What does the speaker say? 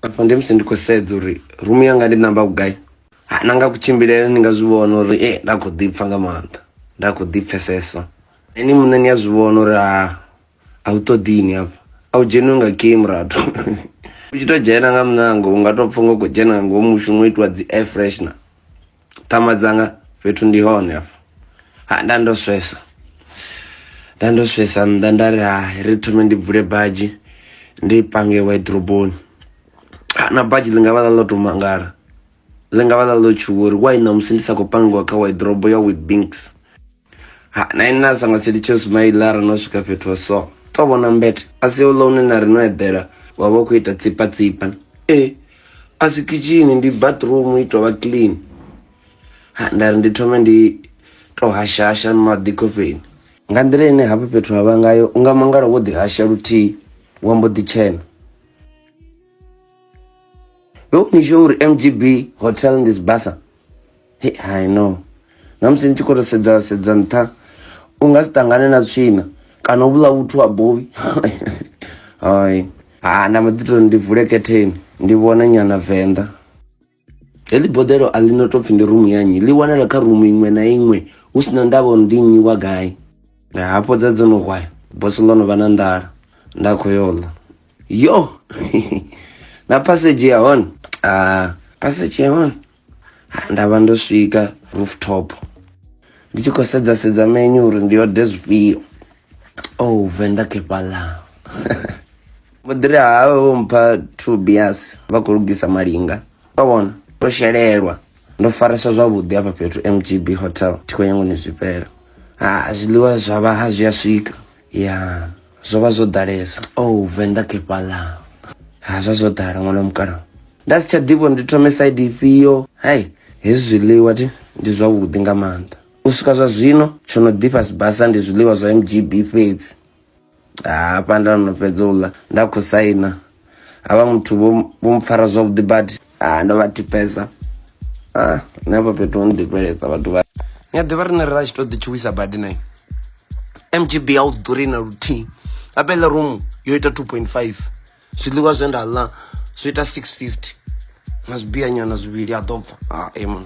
afha ndi musi ndi khou sedza uri rumu yanga ndi namba vhugai ha na nga kutshimbilele ni nga zwi vhona uri e nda khou ḓi pfha nga maanḓa nda khou ḓi pfhesesa ini muṋe ni a zwi vhona uri ha a u ṱoḓini hafha a u dzheniwe nga game rathu u tshi tou dzhena nga muṋango u nga tou pfha nga u khou dzhena nga ngomu mushumo itiwa dzi air freshner ṱhama dzanga fhethu ndi hone afho ha nda ndo swesa nda ndo swesa nnḓa nda ri ha ri thome ndi bvule badzhi ndi pange waidroboni na badzhi ḽi nga vha ḽa ḽo to mangala ḽi nga vha ḽa ḽo tshuwa uri wai ṋamusi ndi sa khou pangiwa kha waidrobo ya witbinks ha na ine na sa nga si litshe sumaila ra no swika fhethu ha so to vhona mbete a si uḽa une na ri no eḓela wa vha u khou ita tsipa tsipa e a si kitshini ndi bathroom i tovha clean ha nda ri ndi thome ndi to hashasha maḓi khofheni nga nḓila ine hafha fhethu ha vha ngayo u nga mangala wo ḓihasha luthihi wa mbo ḓi tshena vhe u ni sho uri mgb hotel ndi sibasa Hey, I know namusi ni tshi khou to sedza sedza nṱha u nga si ṱangane na tswina kana u vhula vhuthu ha bowi hai ha na mbo ḓi to ndi vule ketheni ndi vhone nyana venḓa heḽi boḓelo a ḽi no tou pfhi ndi rumu ya nnyi ḽi wanala kha rumu iṅwe na iṅwe hu si na ndavha uri ndi nnyi wa gai hafho dza dzo no hwaya bosi ḽo no vha na nḓala nda khou yo ḽa Yo, na passage ya hone ah, passage ya hone Ah, nda vha ndo swika rooftop ndi tshi khou sedza sedza menyu uri ndi ode zwifhio oh venḓa kepala vho ḓiri hawe vho mpha two beers vha khou lugisa malinga vha vhona ndo shelelwa ndo faresa zwavhuḓi hafha fhethu mgb hotel thi khou nyangoni zwifhela ha zwiḽiwa zwa vha ha zwi a swika ya zwo vha zwo ḓalesa o oh, venḓa kefhaḽa ha zwa zwo ḓala ṅwana wa mukalaho nda si tsha ḓivho ndi thome side ifhio hai hezwi zwiḽiwa ti ndi zwavhuḓi nga maanḓa u swika zwa zwino tsho no ḓifha sibasa ndi zwiḽiwa zwa mgb fhedzi hafha nda no fhedza u ḽa nda khou saina havha muthu vho vho mpfara zwavhuḓi badi ah ndo vha tipesa ah nṋe hafha fhethu ho nḓifhelesa vhathu vha ni a ḓivha riṋe ri ra tshi to ḓi tshuwisa badi nayo mgb a u ḓuri na luthihi apele room yo ita 2.5 zwiḽiwa zwe nda ḽa zwi ita 650 na zwibiyanyana zwivhili a ḓo bva ah amen